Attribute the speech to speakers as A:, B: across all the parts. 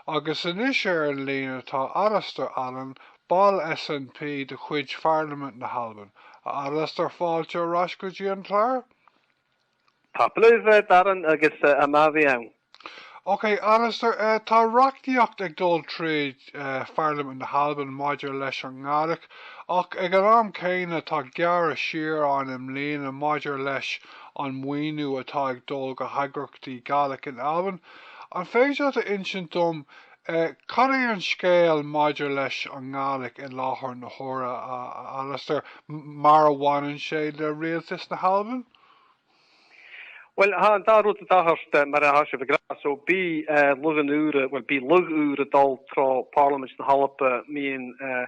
A: Agus anois ar an líne tá Alasdair Allan, ball SNP de chuid Pharlaimint na hAlban. A Alasdair, fáilte ar ais go dtí an clár. Tapadh leibh, Darren, agus math a bhith ann. Ok, Alasdair, tá reachtaíocht ag dul tríd Pharlaimint na hAlban maidir leis an nGàidhlig, ach ag an am céanna tá gearradh siar ann i mbliana maidir leis an maoiniú atá ag dul go heagraíochtaí Gàidhlig in Albain. An féidir leat a insint dom cad é an scéal maidir leis an nGàidhlig i láthair na huaire, a Alasdair, mar a bhaineann sé le Rialtas na hAlban? Uill, tha an dà rud a' tachairt, mar a tha sibh ag ràdh. So, bidh lagh ùr, uill, bidh lagh ùr a' dol tro Phàrlamaid na h-Alba, am-bliadhna,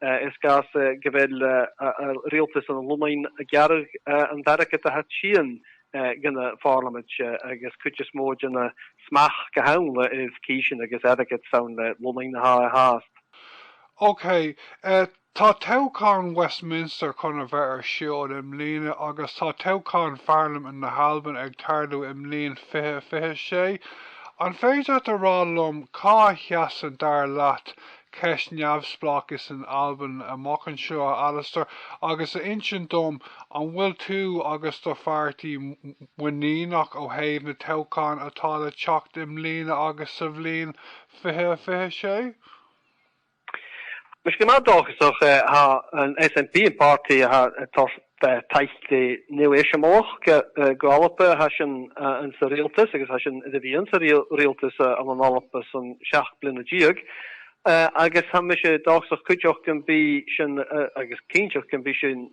A: Sgàth 's gu bheil riaghaltas an Lunnainn a' gearradh an airgead a tha a' tighinn dhan a' phàrlamaid agus cuid as motha dhen an smachd go ham le uibh cìsean agus airgead 's ann le Lunnainn a tha e fhathast. OK, tá toghchán Westminster chun a bheith ar siúl i mbliana agus tá toghchán Pharlaimint na hAlban ag tarlú i mbliain fiche fiche sé. An féidir leat a rá liom cá seasann, dar leat, ceist neamhspleáchais in Albain amach anseo, a Alasdair, agus a insint dom an bhfuil tú agus do pháirtí muiníneach ó thaobh na toghcháin atá le teacht i mbliana agus sa bhliain fiche fiche sé? Tha mise gu math dòchasach, tha an SNP, am pàrtaidh a tha Beidh tailte nua-eiseamláireacha gaolmhara thar cionn an Rialtais agus thar cionn a bhí an Rialtas ar an eolas san 17 bliana agus tá mise dóchasach cuideoidh go mbeidh sin agus cinnteoidh go mbeidh sin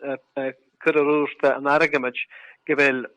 A: curtha ar úr an airgid go bhfuil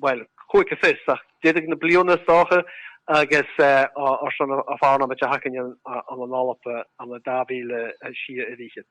A: bhuel, chuaigh go fios, ach d'fhéadfadh na bliana is dócha, agus ár son a bhfána ama de thacaíonn an an an Eoraip ama dá mhíle a shia a ríchead.